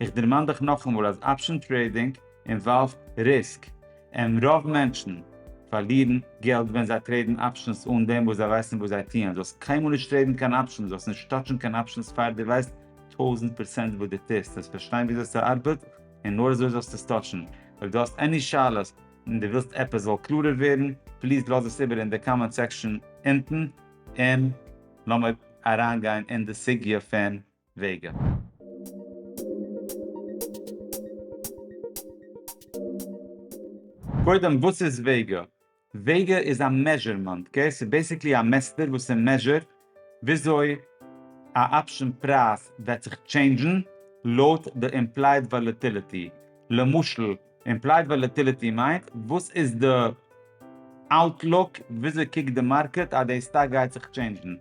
איך דערמאן דיך נאכאמאל אז אפשען טרעידינג אינוואלווד ריסק, און רוב מענטשן פארלירן געלט ווען זיי טרעידן אפשענס אן דעם וואס זיי ווייסן וואס זיי טוען. זאלסט קיינמאל נישט טרעידן קיין אפשענס, זאלסט נישט טאטשן קיין אפשענס פאר דו ווייסט טויזנט פראצענט וואס דו טוסט, זאלסט פארשטיין ווי אזוי ס'ארבעט, און נאר אזוי זאלסטו עס טאטשן. אויב דו האסט עני שאלות און דו ווילסט עפעס זאל קלארער ווערן, פליז לאז עס איבער אין די קאמענט סעקשאן אונטן, און לאמיר אריינגיין אין די סוגיא פון וועגן. קודם וואס איז וועגע? וועגע איז א מעזשערמענט, אקעי? ס'איז בעסיקלי א מעסטער וואס ס'מעזשערט וויאזוי א אפשען פרייז וועט זיך טשעינדזשן לויט די אימפלייד וואלעטיליטי, למשל, אימפלייד וואלעטיליטי מיינט וואס איז די אוטלוק, וויאזוי קוקט די מארקעט אז די סטאק גייט זיך טשעינדזשן,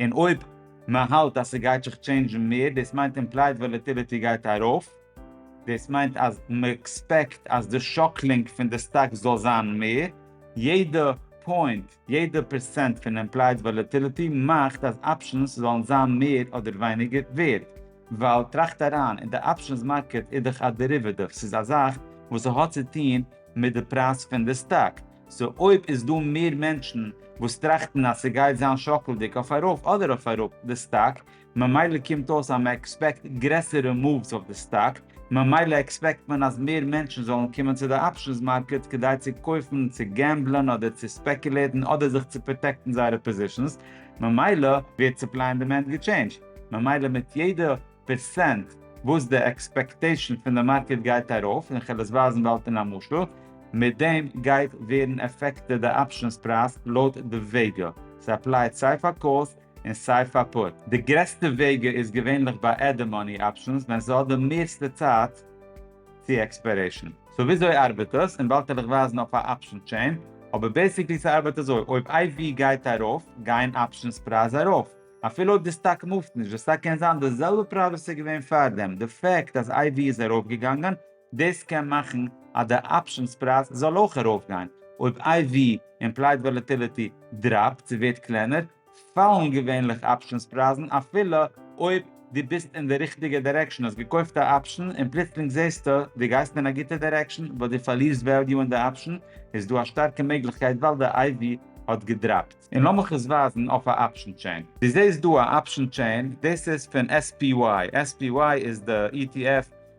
און אויב מען האלט אז ס'גייט זיך טשעינדזשן מער, דאס מיינט אימפלייד וואלעטיליטי גייט ארויף, דאס מיינט אז מען עקספעקט אז די שאקלינג פון די סטאק זאל זיין מער, יעדע פוינט יעדע פערסענט פון עמפלייס וואלעטיליטי מאכט אז אפשענס זאלן זיין מער אדער ווייניגער ווערד, ווייל טראכט אריין, אין די אפשענס מארקעט איז דאך א דעריוועטיוו, ס'איז א זאך וואס ס'האט צו טון מיט די פרייז פון די סטאק, סאו אויב איז דא מער מענטשן וואס טראכטן אז ס'גייט זיין שאקלדיג אויף ארויף אדער אויף אראפ די סטאק, ממילא קומט אויס אז מען עקספעקט גרעסערע מאווס אויף די סטאק, ממילא עקספעקט מען אז מער מענטשן זאלן קומען צו די אפשענס מארקעט כדי צו קויפן, צו געמבלען אדער צו ספעקולעטן אדער זיך צו פראטעקטן זייערע פאזישענס, ממילא ווערט סופליי און דימענד געטשעינדזשט, ממילא מיט יעדע פערסענט וואס די עקספעקטעישן פון די מארקעט גייט ארויף, און כ'על עס ווייזן באלד אין א משל, מיט דעם גייט ווערן עפעקטעד די אפשענס פרייז לויט די וועגעל, ס'אפלייט סיי פאר קאלס און סיי פאר פוט. די גרעסטע וועגע איז געווענליך ביי עדד מאני אפשענס ווען ס'האט די מערסטע צייט צו עקספיירעישן. סאו וויאזוי ארבעט דאס? און באלד וועל איך ווייזן אויף א אפשען טשעין, אבער בעסיקלי ס'ארבעט אזוי, אויב איי ווי גייט ארויף, גייען אפשענס פרייז ארויף, אפילו אויב די סטאק מופט נישט, די סטאק קען זיין די זעלבע פרייז וואס ס'איז געווען פארדעם, די פעקט אז איי ווי איז ארויפגעגאנגען, דאס קען מאכן אז די אפשענס פרייז זאל אויך ארויפגיין. אויב איי ווי, אימפלייד וואלעטיליטי, דראפט צו ווערט קלענער, פאלן געווענליך אפשענס פרייזן אפילו אויב דו ביסט אין די ריכטיגע דירעקשאן, האסט געקויפט א אפשען און פלוצלינג זעסטו דו גייסט אין א גוטע דירעקשאן באט דו פארלירסט וועליו אין די אפשען, איז דא א שטארקע מעגליכקייט ווייל די איי ווי האט געדראפט. און לאמיך עס ווייזן אויף א אפשען טשעין. דו זעסט דא א אפשען טשעין, דאס איז פון SPY, SPY איז די ETF,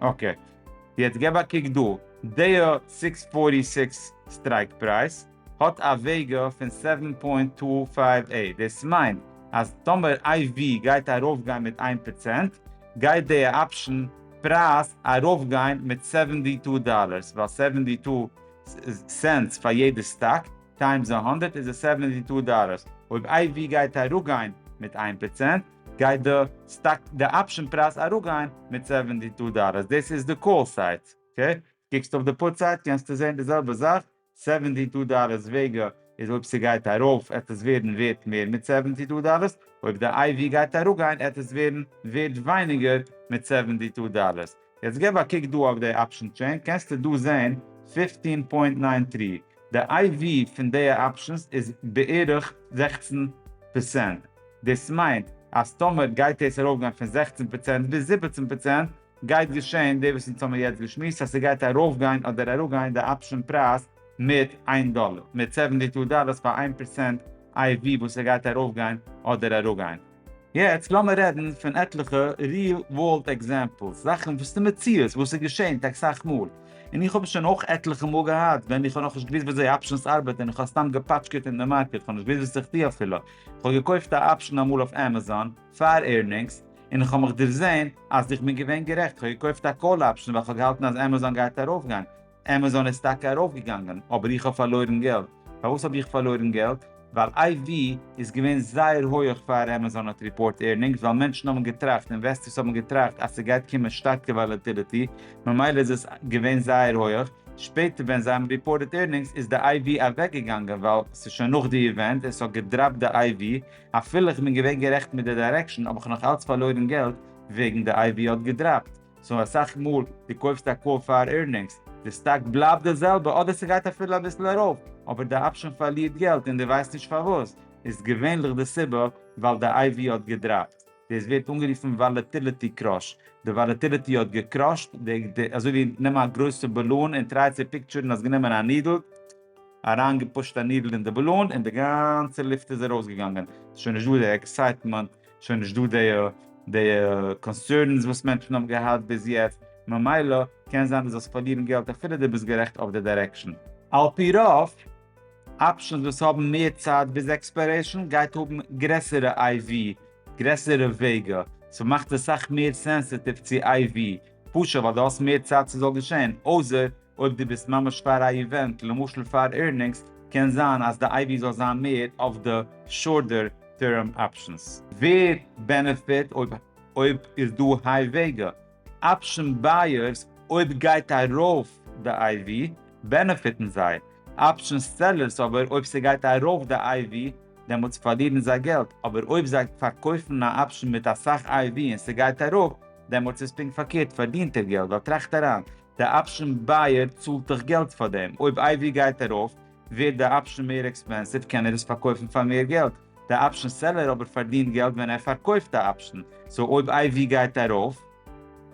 אקעי, יעצט געב א קוק דא, דעיע סיקס פארטי סיקס סטרייק פרייז האט א וועגא פון סעווען פוינט טו פייוו עיט, דאס מיינט אז טאמער איי ווי גייט ארויפגיין מיט איין פראצענט גייט דעיע אפשן פרייז ארויפגיין מיט סעווענטי טו דאלערס, ווייל סעווענטי טו סענטס פאר יעדע סטאק טיימס א הונדערט איז עס סעווענטי טו דאלערס, אויב איי ווי גייט אראפגיין מיט איין פראצענט גייט די סטאק די אפשען פרייז אראפגיין מיט סעווענטי טו דאלער, דאס איז די קאל סייט, אקעי? קוקסט אויף די פוט סייט קענסטו זען די זעלבע זאך, סעווענטי טו דאלער וועגע איז אויב ס'גייט ארויף עט עס ווערן ווערט מער מיט סעווענטי טו דאלער, אויב די איי ווי גייט אראפגיין עט עס ווערן ווערט ווייניגער מיט סעווענטי טו דאלער. יעצט געב א קוק דא אויף די אפשען טשעין קענסטו דא זעהן פֿופֿצן פוינט נײַן טרי, די איי ווי פון די אפשענס איז בערך זעכצן פערצענט, דאס מיינט אז טאמער גייט דאס ארויפגיין פון זעכצן פערצענט ביז זיבעצן פערצענט גייט געשען די וואס אונז האבן יעצט געשמועסט אז ס'גייט ארויפגיין אדער אראפגיין די אפשען פרייז מיט איין דאלער, מיט סעווענטי טו דאללערס פאר איין פערצענט איי ווי וואס ס'גייט ארויפגיין אדער אראפגיין. יעצט לאמיר רעדן פון עטליכע ריעל ווארלד עקזעמפלס, זאכן וואס איז מציאות, וואס איז געשען טאקע סאך מאל, און איך האב עס שוין אויך עטליכע מאל געהאט ווען איך האב נאכנישט געוואוסט וויאזוי אפשענס ארבעט און איך האב סתם געפאטשקעט אין די מארקעט, איך האב נישט געוואוסט וואס איך טו אפילו, איך האב געקויפט א אפשען אמאל אויף עמעזאן פאר עירנינגס און איך האב מיך דערזען אז איך בין געווען גערעכט, איך האב געקויפט א קאל אפשען ווייל איך האב געהאלטן אז עמעזאן גייט ארויפגיין, עמעזאן איז טאקע ארויפגעגאנגען אבער איך האב פארלוירן געלט. פארוואס האב איך פארלוירן געלט? ווייל איי ווי איז געווען זייער הויעך פאר עמעזאן האט ריפארט ערנינגס ווייל מענטשן האבן געטראכט, אינוועסטערס האבן געטראכט אז ס'גייט קומען שטארקע וואלעטיליטי ממילא איז עס געווען זייער הויעך, שפעטער ווען זיי האבן ריפארטעד ערנינגס איז די איי ווי אוועקגעגאנגען ווייל ס'איז שוין נאך די איווענט און ס'האט געדראפט די איי ווי, אפילו איך בין געווען גערעכט מיט די דיירעקשאן האב איך נאך אלץ פארלוירן געלט וועגן די איי ווי האט געדראפט. סאו אסאך מאל די קויפסט א קאר פאר עירנינגס, די סטאק בלייבט די זעלבע אדער ס'גייט אפילו אביסל ארויף, אבער די אפשען פארלירט געלט און די ווייסט נישט פארוואס, איז געווענליך די סיבה ווייל די איי ווי האט געדראפט, דאס ווערט אנגערופן וואלעטיליטי קראש, די וואלעטיליטי האט געקראשט, די אזוי ווי נעם א גרויסע באלון און טריי צו פיקטשערן אז גענומען א נידל, אריין געפושט א נידל אין די באלון און די גאנצע לופט איז ארויס געגאנגען, ס'איז שוין נישט דא די עקסייטמענט, שוין נישט דא די די קאנסערנס וואס מענטשן האבן געהאט ביז יעצט, ממילא קען זיין דו זאלסט פארלירן געלט אפילו דו ביסט גערעכט אויף די דירעקשאן. על פי רוב, אפשענס וואס האבן מער צייט ביז עקספיירעישאן גייט האבן גרעסערע איי ווי, גרעסערע וועגא, סאו מאכט עס סאך מער סענסעטיוו צו איי ווי. פשוט ווייל דו האסט מער צייט ס'זאל געשען, אויסער אויב דו ביסט ממש פאר א איווענט, למשל פאר עירנינגס, קען זיין אז די אייווי זאל זיין מער אויף די שארטער טערם אפשענס. ווער בענעפיט אויב אויב איז דא היי וועגע אפשען בייערס אויב גייט ארויף די אייווי בענעפיטן זיי, אפשען סעלערס אבער אויב ס'גייט ארויף די אייווי דעמאלטס פארלירן זיי געלט, אבער אויב זיי פארקויפן א אפשען מיט אסאך אייווי און ס'גייט ארויף, דעמאלטס איז פונקט פארקערט, פארדינט ער געלט, ווייל טראכט אריין, די אפשען בייער צאלט דאך געלט פאר דעם, אויב איי ווי גייט ארויף, ווערט די אפשען מער עקספענסיוו, קען ער עס פארקויפן פאר מער געלט, די אפשען סעלער אבער פארדינט געלט ווען ער פארקויפט א אפשען, סאו אויב איי ווי גייט ארויף,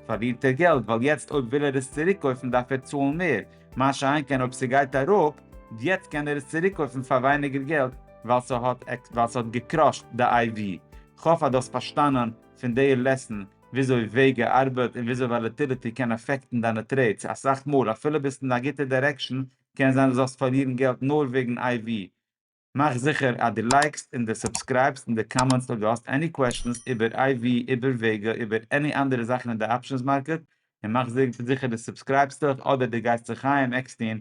פארדינט ער געלט, ווייל יעצט אויב וויל ער עס צוריקקויפן דארף ער צאלן מער, מה שאין כן אויב ס'גייט אראפ, יעצט קען ער עס צוריקקויפן פאר ווייניגער געלט, ווייל ס'האט געקראשט די איי ווי, כ'האף אז דו האסט פארשטאנען. פון די לעסן וויאזוי וועגע ארבעט און וויאזוי וואלעטיליטי קען אפעקטן דיינע טרעידס, אסאך מאל אפילו ביסט אין א גוטע דירעקשאן קען זיין דו זאלסט פארלירן געלט נאר וועגן איי ווי. מאך זיכער אז דו לייקסט און דו סובסקרייבסט און דו קאמענטסט אויב דו האסט עני קוועשאנס איבער איי ווי, איבער וועגע, איבער עני אנדערע זאכן אין די אפשענס מארקעט, און מאך זיכער דו סובסקרייבסט דיך אדער דו גייסט זיך חיים עקסטין